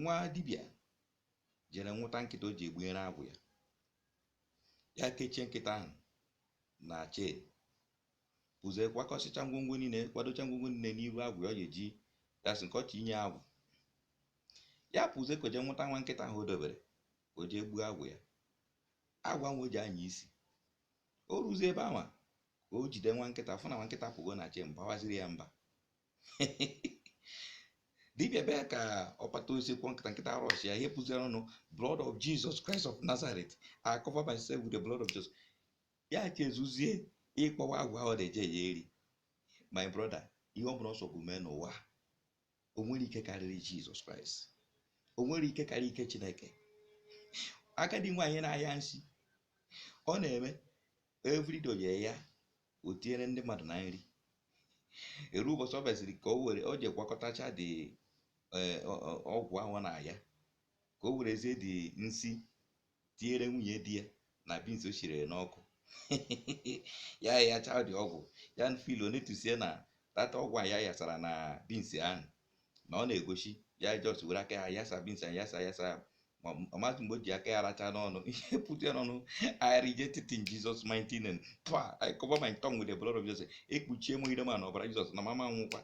nwa dibịa jere nwụta nkịta o ji egbunyere agwụ ya ya kechie nkịta ahụ na chain pụzie kwakọsịcha ngwongwo niile kwadocha ngwongwo niile n'iru agwụ ya ọ ga-eji dasị nke ọchị inye agwụ ya pụzie ka o jee nwụta nwa nkịta ahụ o dobere ka o jee gbuo agwụ ya agwụ ahụ o ji anya isi o ruzie ebe ahụ ka o jide nwa nkịta fụ na nwa nkịta pụgo na chain bawaziri ya mba dibịa bịa ka ọ kpata osisi kụọ nkịta nkịta arush ya ihe pụziri ya n'ọnụ blood of jesus christ of nazareth i cover myself with the blood of jesus ya chezọzie ịkpọwa agwụ ahụ na-eje ya eri my brother ihe ọ bụla ọ sọ gụ mee n'ụwa o nwere ike karịrị jizọs kraịst o nwere ike karịa ike chineke agadi nwaanyị na-aya nsi ọ na-eme every day ya o tinyere ndị mmadụ na nri eruo ụbọchị ọ bịaziri ka o were o je gwakọtacha the eh, ọ- ọ- ọgwụ ahụ ọ na-aya ka o werezie the nsi tinyere nwunye di ya na beans o shinyere n'ọkụ ya yacha the ọgwụ ya feel o notisie na tata ọgwụ a ya yasara na beans ahụ na ọ na-egosi ya just were aka ya yasa beans a yasa yasa ya ma ọ maghị mgbe o ji aka ya racha n'ọnụ ihe pụta ya n'ọnụ I reject it in Jesus mighty name twa I cover my tongue with the blood of Jesus ekpuchie m ire mụ na ọbara Jizọs na mụ ama anwụkwa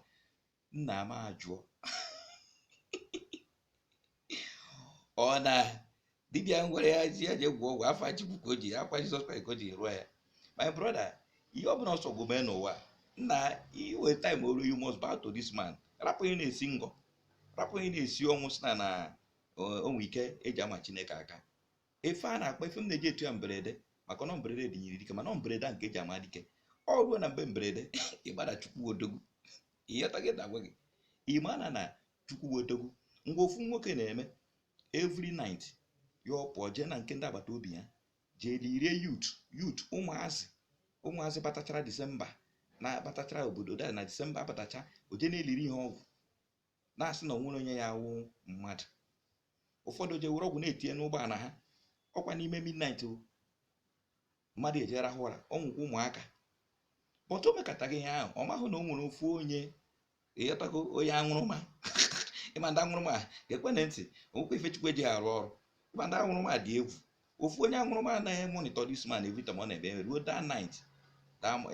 nna m ajụọ ọ na dibịa gwara ya ji ya je gwọ ọgwụ afa chukwu ka o ji afa jizọs kraịst ka o ji rụọ ya my brother ihe ọ bụla ọ sọ gụ mee n'ụwa nna iwe time o ruo you must bow to this man rapụ ihe na-esi ngọ rapụ ihe na-esi ọnwụ si na na o nwe ike e ji ama chineke aka efe a na-akpa efe m na-eji etu ya mberede maka na mberede nyiri dike mana mberede ka e ji ama dike ọ ruo na mgbe mberede ịgbada chukwu odogwu ị ghọta ihe m na-agwa gị ị ma na na chukwu bụ odogwu ngwa ofu nwoke na-eme every night ya ọ pụọ jee na nke ndị agbata obi ya jee lirie youth youth ụmụazị ụmụazị batachara disemba na-abatachara obodo na disemba abatacha o je na-eliri ihe ọgwụ na-asị na o nwere onye ya-awụ mmadụ ụfọdụ o je were ọgwụ na-etinye n'ụgbọala ha ọ kwa n'ime midnight o mmadụ eje rahụ ụra ọ nwụkwa ụmụaka but o mekata ihe ahụ ọ mahụ na o nwere ofu onye ị ghọtago onye aṅụrụma ị ma ndị aṅụrụma ga-ekwe na ntị o nwekwa ife chukwu e ji arụ ọrụ ị ma ndị aṅụrụma dị egwu ofu onye aṅụrụma a na-emonitor this man every time ọ na-ebe ruo that night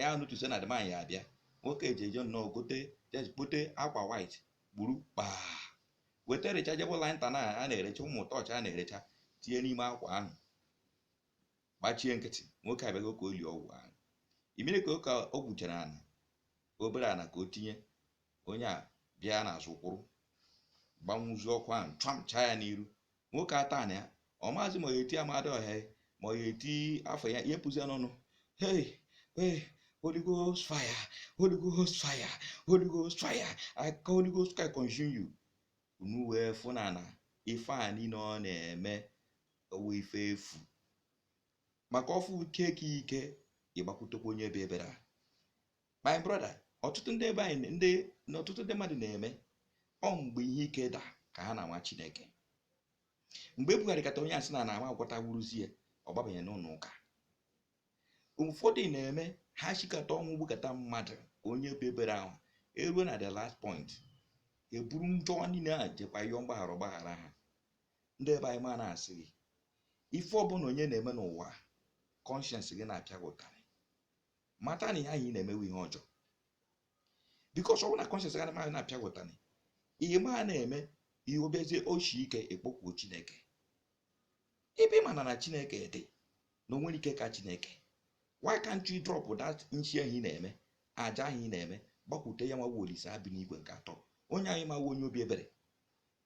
ya notice na the man ya-abịa nwoke eji eje nnọọ gote kpote akwa white gburu kpaa weta rechargeable lantern a na-erecharge ụmụ tọọchị a na-erecharge tinye n'ime akwa ahụ gbachie nkịtị nwoke abịago ka o lie ọgwụ ahụ imere ka o gwuchara ana obere ana ka o tinye onye a bịa n'azụ kwụrụ gbanwụzie ọkụ ahụ chamchaa ya n'iru nwoke ata ana ya ọ maazị ma ya eti amadiọha ya ma ya eti afọ ya ihe pụzi ya n'ọnụ hei hei holy ghost fire holy ghost fire holy ghost fire i call holy ghost fire consume you unu wee fụ na na ife a niile ọ na-eme ọ wụ ife efu maka ọ fụ nke ka ike ịgbakwutekwa onye obi ebere ah my brother ọtụtụ ndị be anyị ndị na ọtụtụ ndị mmadụ na-eme ọ mgbe ihe ike da ka ha na-anwa chineke mgbe e bugharịkata onye a sị na na ama agwọta wuruzie ọ gbabanye n'ụlọ ụka ụfọdụ na-eme ha shikata ọnwụ gbukata mmadụ onye obi ebere ahụ eruo na the last point e buru njọ niile a jekwa yọọ mgbaghara ọ gbaghara ha ndị be anyị ma na-asị gị ife ọbụla onye na-eme n'ụwa conscience gị na-apịa gị ụtarị mata na ihe a ị na-eme wụ ihe ọjọọ because ọ bụrụ na conscience gị na-amaghị na-apịa gị ụtarị ị ma na-eme ihe obezie o shi ike i kpokwuo chineke ebe ị mana na chineke dị na o nwere ike ka chineke why can't you drop that nshi ahụ ị na-eme aja ahụ ị na-eme gbakwute ya nwa wụ olisa bi n'igwe nke atọ onye anyị ma wụ onye obi ebere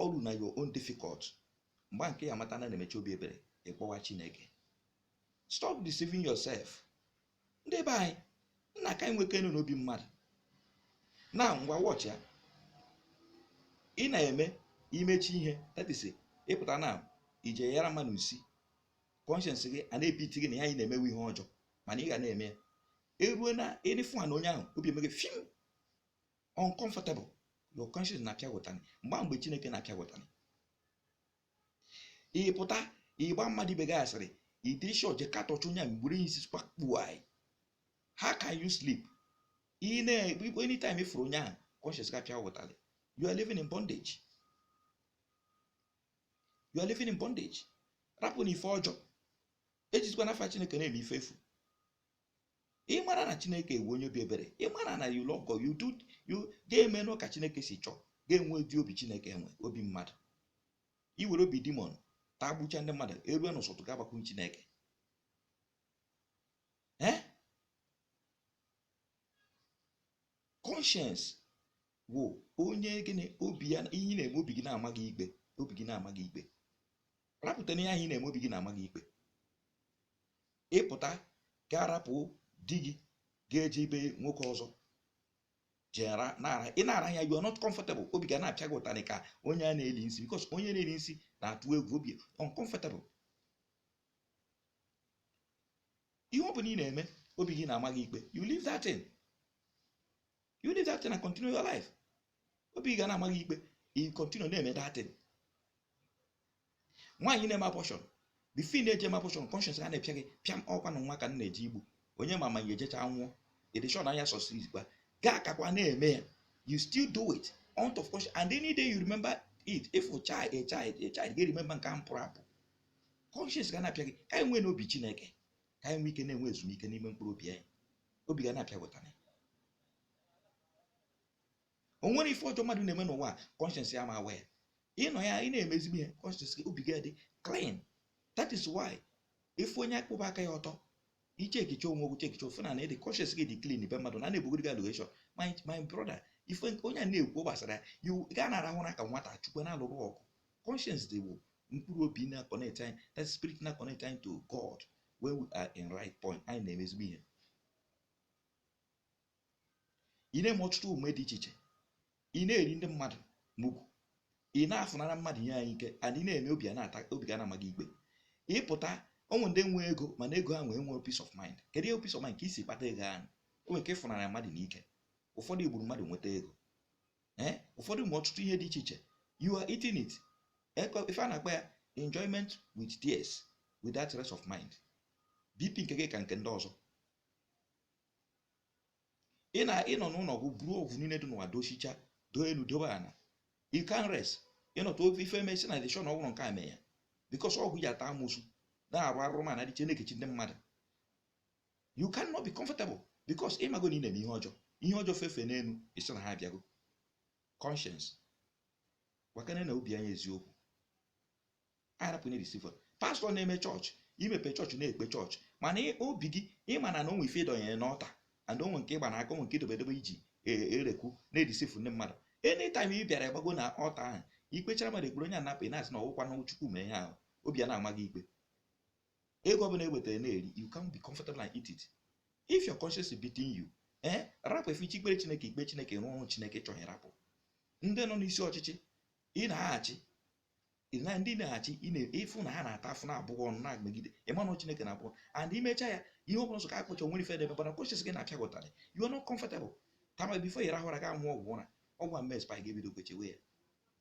o ruo na your own difficult mgbe nke ị ya-amata na na e nwe chi obi ebere ị kpọwa chineke stop deceiving yourself ndị be anyị nna ka anyị nwekenụ obi mmadụ na ngwa watch ya ị na-eme i mecha ihe that is ị pụta na i je yara mmadụ isi conscience gị a na-ebiti gị na ihe a ị na-eme wụ ihe ọjọọ mana ị ga na-eme ya erue na ị na-afụ na onye ahụ obi eme gị fim uncomfortable your conscience na-apịa gị ụtanị mgbe mgbe chineke na-apịa gị ụtanị ị pụta ị gba mmadụ ibe gị asịrị idiri shọ je katọcha onye a mgbere isi kpakpu anya how can you sleep anytime ị fụrụ onye ahụ conscience gị apịa gị ụtanị you are living in bondage you are living in bondage rapụnụ ife ọjọọ ejizikwana afa chineke na-eme ife efu ị mara na chineke wụ onye obi ebere ị mara na you love God you do you ga-eme nụ ka chineke si chọọ ga-enwe ụdị obi chineke nwe obi mmadụ i were obi demon taa gbucha ndị mmadụ erue n'ụsọtụ ga-agbakwu chineke ee conscience wụ onye gịnị obi ya ihe ị na-eme obi gị na-ama gị ikpe obi gị na-ama gị ikpe rapụta n'ihe ahụ ị na-eme obi gị na-ama gị ikpe ịpụta ga-arapụ di gị ga-eje be nwoke ọzọ jera na-ara ị na-ara ya you are not comfortable obi ga na-apịa gị ụtarị ka onye a na-eli nsi because onye na-eli nsi na-atụ egwu obi uncomfortable ihe ọ bụla ị na-eme obi gị na-ama gị ikpe you leave that thing you leave that thing and continue your life obi gị na-ama gị ikpe ị continue na-eme that thing nwaanyị na-eme abortion before ị na-eje eme abortion conscience ga na-apịa gị pịam ọ kwa na nwa ka m na-eje igbu onye ma ma ya ejecha nwụọ edishon anya sọsiriz gwa gaa akakwa na-eme ya you still do it out of conscience and any day you remember it if a child a child a child ga remember nke ahụ pụrụ apụ conscience ga na-apịa gị ka anyị nwee n'obi chineke ka anyị nwee ike na-enwe ezumike n'ime mkpụrụ obi anyị obi ga na-apịa ụtarị o nwere ife ọjọọ mmadụ na-eme n'ụwa conscience ya ma agwa ya ịnọ ya ị na-eme ezigbo ihe conscience gị obi gị dị clean that is why ị fụ onye akwụba aka ya ọtọ iche ekiche onwe ogwu chekiche ofe na na ịdị conscience gị dị clean but mmadụ na na-ebugoro gị allegation my brother ife onye a na-ekwu gbasara ya ga na-arahụ ụra ka nwata chukwu na-alụrụ ọgụ conscience gị bụ mkpụrụ obi na-connect anyị that spirit na-connect anyị to God when we are in right point anyị na-eme ezigbo ihe ị na-eme ọtụtụ omume dị iche iche ị na-eri ndị mmadụ mugwu ị na-afụnara mmadụ ihe ha n'ike and ị na-eme obi na-ata obi ga na-ama gị ikpe ịpụta o nwe ndị nwe ego mana ego ahụ enwerọ peace of mind kedu ihe peace of mind ka i si kpata ego ahụ o nwere ike ịfụnara mmadụ n'ike ụfọdụ gburu mmadụ nweta ego eh, ụfọdụ mee ọtụtụ ihe dị iche iche you are eating it ife a na-akpọ ya enjoyment with tears without rest of mind bp nke gị ka nke ndị ọzọ ị nọ n'ụlọ ọgwụ buru ọgwụ niile dị n'ụwa dochicha doo elu dobe ala you can't rest ịnọta ofe ife emesi na dishon ọgwụrụ nke a mee ya because ọgwụ i ji ata amụsụ na-arụ arụrụmana dị iche na-ekechi ndị mmadụ you cannot be comfortable because ị mago na ị na-eme ihe ọjọọ ihe ọjọọ fefe n'elu ị sị na ha abịago conscience gwakene na obi anyị eziokwu arapụ na receiver pastọ na-eme chọọchị i mepe chọọchị na-ekpe chọọchị mana obi gị ịma na na o nwe ife i donyere n'altar and o nwe nke ị gba n'aka o nwe nke i dobe edobe i ji e, erekwu na-deceive ndị mmadụ anytime ị bịara gbago na altar ahụ i kpechara mmadụ ekpere onye anapụ ị na-asị na ọ wụkwa na chukwu mee ihe ahụ obi a na-ama gị ikpe ego ọbụla ewetara na-eri you can't be comfortable and eat it if your conscience is beating you ee eh, rapụ efe ị chọọ ikpere chineke i kpee chineke rụọ ọrụ chineke ị chọghị rapụ ndị nọ n'isi ọchịchị ị na-achị na ndị ị na-achị ị fụ na ha na-ata afụfụ na-abụ gị ọnụ na-emegide ịmanụ chineke na-abụọ and imecha ya ihe ọ bụla sọ ka akpọcha o nwere ife debe mana conscience gị na-apịa gị ụtarị you are not comfortable at times before ị rahụ ụra ga-aṅụ ọgwụ ụra ọgwụ a mmes pa ga-ebido kwechewe ya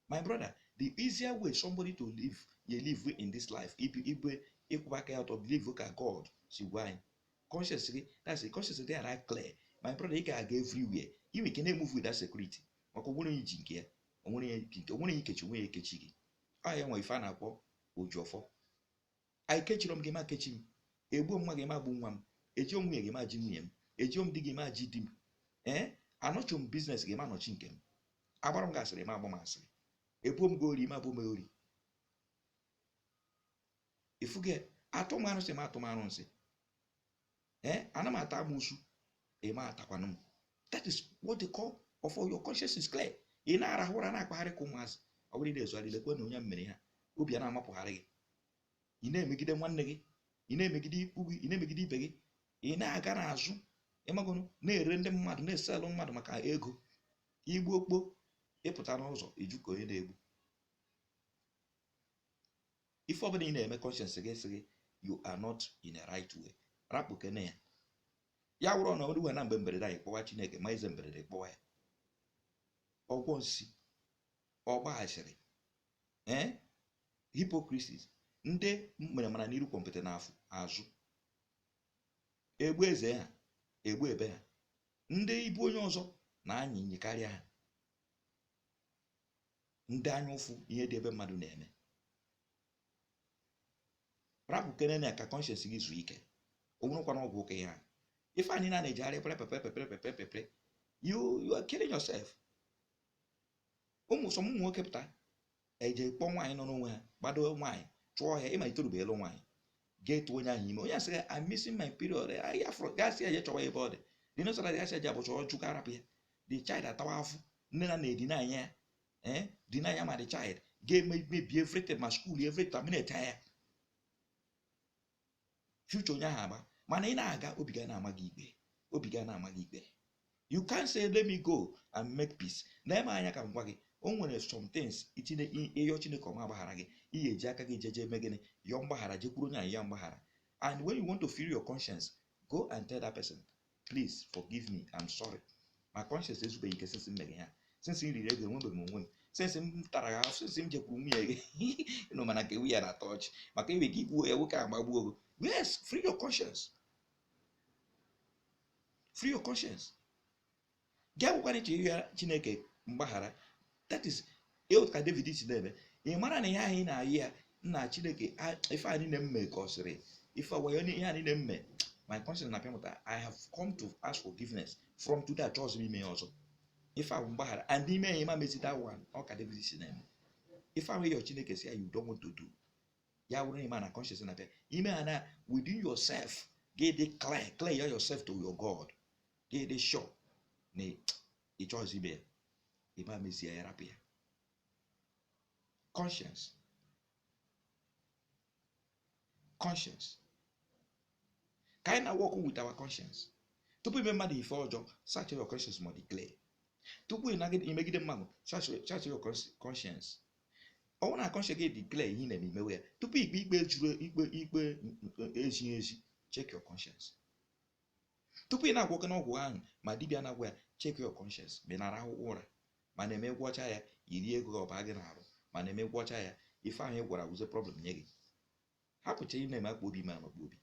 my brother the easier way somebody to live ye live in this life ibu ibe ịkwụba aka ya ọtọ believe ka God si gwa anyị conscience gị that's it conscience dị ara clear my brother ị ga-aga everywhere i nwe ike na-emove with that security maka onwere onye ji nke ya onwere onye ikechi onwe ya ekechi gị ọ ya wụ ife a na-akpọ oji ọfọ ekechiro m gị ma kechi m egbuo m nwa gị ma gbu nwa m ejio m nwunye gị ma ji nwunye m ejio m di gị ma ji di m ee anọchi m business gị ma nọchi nke m agbara m gị asịrị ma agba m asịrị ebuo m gị ori ma bu m ori ifuge atụ m arụsị ma tụ m arụsị ee eh, ana m ata amụsu ị ma takwanụ m that is what they call of your conscience is clear ị na-arahụ ụra na-akpagharị ka ụmụazị ọ bụrụ ị na-ezogharị lekwe na onye mere ha obi a na-amapụgharị gị ị na-emegide nwanne gị ị na-emegide ikwu gị ị na-emegide ibe gị ị na-aga n'azụ ị magonụ na-ere ndị mmadụ na-esell mmadụ maka ego igbu okpo ị pụta n'ụzọ ị jụ ka onye na-egbu ife ọbụla ị na-eme conscience gị sị gị you are not in a right way rapụkene ya ya wụrụ na o ruwe na mgbe mberede anyị kpọwa chineke ma ize mberede kpọwa ya ọgwọ nsi ọgba asịrị ee eh? hypocrisies ndị mere mere n'iru kwọmpịtị na afụ azụ egbu eze ha egbu ibe ha ndị ibu onye ọzọ na-anyị nyịkarịa ha ndị anya ụfụ ihe dị ebe mmadụ na-eme rapụkenenụ ka conscience gị zuo ike o nwerekwana ọgwụ ụka ihe a ife anyị na na-ejegharị pere pepere pepere pepere pepere you you are killing yourself ụmụ some ụmụ nwoke pụta eje kpọọ nwaanyị nọ n'onwe ha gbado nwaanyị chụọ ya ịmalite rube elu nwaanyị ga-etu onye ahụ ime onye a sị ya I'm missing my period ihe afụ ọ ga-asị ya je chọwa ebe ọ dị dị n'ụsọla ga-asị ya je abort ya ọ jụ ka a rapụ ya the child atawa afụfụ nne na nna edeny ya ee deny ya ma the child ga-eme mebi everything ma school everything terminate ya future onye ahụ agba mana ị na-aga obi gị ana-ama gị ikpe obi gị ana-ama gị ikpe you can say let me go and make peace na eme anya ka m gwa gị o nwere some things i tinye ị yọ chineke ọ ma agbaghara gị ị ga-eji aka gị jeje eme gịnị yọọ mgbaghara jekwuru onye a yọọ ya mgbaghara and when you want to free your conscience go and tell that person please forgive me I'm sorry my conscience ezubeghị ike since m mere ya since m riri ego enwebeghị m onwe m since m tara gị ahụ since m jekwuru nwunye gị nọ mana nke nwunye na-atọ ọchị maka iwe ka igbuo ya nwoke agbagbuo gị yes free your conscience free your conscience gị akwụkwara iche ịrịọ chineke mgbaghara that is ka david si na-eme ị mara na ihe ahụ ị na-ayọ ya nna chineke ife a niile m mee ka ọ sịrị ife ọgwayo ihe a niile m mee my conscience na-apịa m ụtarị i have come to ask forgiveness from today achọghịzi m ime ya ọzọ ife ahụ mgbaghara and ime ya ị ma mezi that one ọ ka david si na-eme ife ahụ ịyọ chineke sị ya you don't want to do ya wụrụ ị ma na conscience na-apịa ị mara na within yourself gị dị clear clear yourself to your God gị dị sure na ị chọghịzi ime ya ị ma mezi ya rapụ ya conscience conscience ka anyị na-work with our conscience tupu ime mmadụ ife ọjọọ search your conscience ma ọ dị clear tupu imegide mmadụ search your conscience ọ bụrụ na conscience gị dị clear ihe ị na-eme i mewe ya tupu ikpe ikpe juru ikpe ikpe ezighị ezi check your conscience tupu ị na-agwọkwanụ ọgwụ ahụ ma dibịa na-agwọ ya check your conscience ma ị na-arahụ ụra ma na-eme gwọcha ya i rie ego gị ọ ba gị n'arụ ma na-eme gwọcha ya ife ahụ ị gwọrọ wụzie problem nye gị hapụcha ị na-eme akpụ obi ma akpụ obi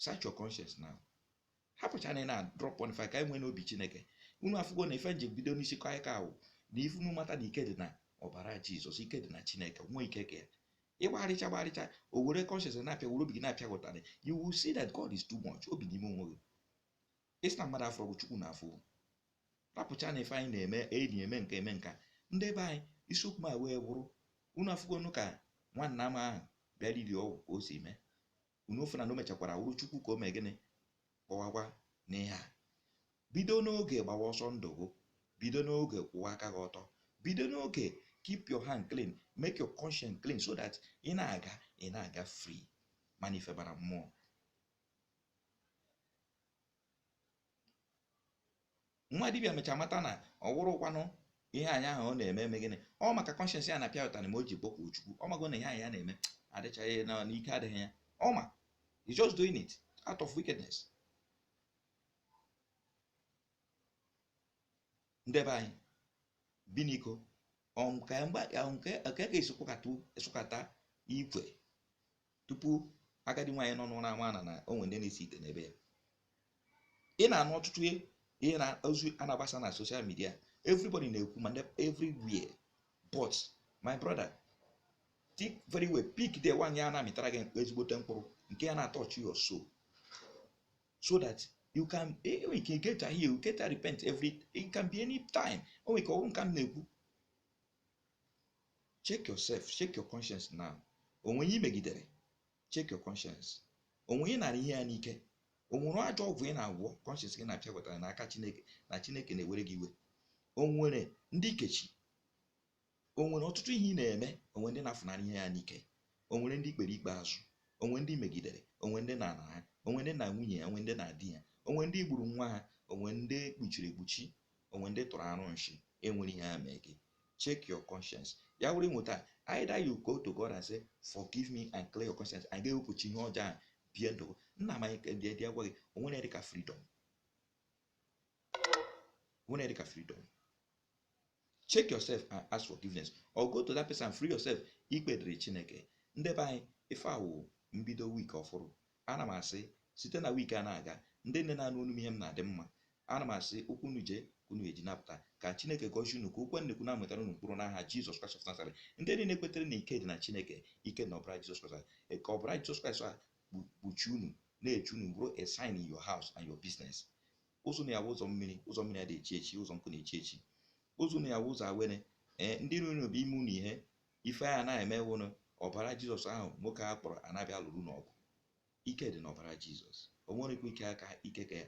search your conscience now hapụchana na drop on ka anyị nweenụ obi chineke unu afụgo na ife m ji bido n'isi kọ anyị ka ahụ na ife unu mata na ike dị na ọbara jizọs ike dị na chineke nwee ike ka ya ịgbagharịcha gbagharịcha o were conscience na-apịa were obi gị na-apịa gị ụtarị you will see that God is too much o bi n'ime onwe gị ị sị na mmadụ afọ bụ chukwu na afọ rapụcha na ife anyị na-eme enyi eme nke eme nka ndị be anyị isiokwu m a wee bụrụ unu afụgonu ka nwanna m ahụ bịara iri ọgwụ ka o si mee unu fụna na o mechakwara wụrụ chukwu ka o mee gịnị kpọwakwa n'ihe a bido n'oge gbawa ọsọ ndụ gị bido n'oge kwụwa aka gị ọtọ bido n'oge keep your hand clean make your conscience clean so that ị na-aga ị na-aga free mana ife bara mmụọ nwa dibịa mecha mata na ọ wụrụkwanụ ihe nya na-eme eme gịnị ọ maka conscience ya na-apịa ụtarị ma o ji kpọkwu Chukwu ọ mago na ihe nya na-eme adịchaghị na ike adịghị ya ọ ma he's just doing it out of wickedness ndị be anyị biniko nke ka a sụkata ikwe tupu agadi nwaanyị nọ n'ụra ama na na o nwere ndị na-esi ite n'ebe ya ị na-anụ ọtụtụ ihe na ozi a na-agbasa na social media everybody na-ekwu ma everywhere but my brother think very well pick the one ya na-amịtara gị ezigbote mkpụrụ nke ya na-atouch your soul so that you can enwe ike get a heal get a repent every it can be any time o nwere ike ọ wụrụ nka m na-ekwu check yourself check your conscience now o nwere onye i megidere check your conscience o nwere onye ị nara ihe ya n'ike o nwere ajọ ọgwụ ị na-agwọ conscience gị na-apịa gị ụtarị n'aka chineke na chineke na-ewere gị iwe o nwere ndị i kechi o nwere ọtụtụ ihe ị na-eme o nwere ndị ị nafụnara ihe ya n'ike o nwere ndị i kpere ikpe azụ o nwere ndị i megidere o nwere ndị ị na-ana ha o nwere ndị ị nara nwunye ya o nwere ndị ị nara di ya o nwere ndị i gburu nwa ha o nwere ndị i kpuchiri ekpuchi o nwere ndị ị tụrụ arụ nshi e nwere ihe ha mee gị check your conscience ya wụrụ i nweta either you go to God and say forgive me and clear your conscience and ga-ewepụcha ihe ọjọọ a bie ndụ nna m anyị dị dị agwa gị o nwere ihe dịka freedom o nwere ihe dịka freedom check yourself and ask forgiveness or go to that person and free yourself ikpe dịrị Chineke ndị be anyị ife a wụ mbido week ọfụrụ Ana m asị, site na week a na-aga, ndị nne na-anụ onu m ihe m na-adị mma. Ana m asị, ụkwụ unu jee, ka unu eji na-apụta. Ka Chineke gọzie unu, ka okwu a m na-ekwu na-amịtara unu mkpụrụ n'aha Jizọs Kraịst of Nazareth. Ndị niile kwetere na ike dị na Chineke, ike dị na ọbara Jizọs Kraịst, e, ka ọbara Jizọs Kraịst a kpu- kpuchie unu, na-eche unu bụrụ a sign in your house and your business. Ụzọ unu ya-abụ ụzọ mmiri, ụzọ mmiri adịghị echi echi, ụzọ nkụ na-echi echi. Ụzọ unu ya-abụ ụzọ awere, ee, ndị iro unu bịa ime unu ihe, ife a na-eme wụ na ọbara jizọs ahụ nwoke a kpọrọ na-abịa alụrụ unu ọgụ ike dị n'ọbara jizọs o nwerekwa ike aka ike ka ya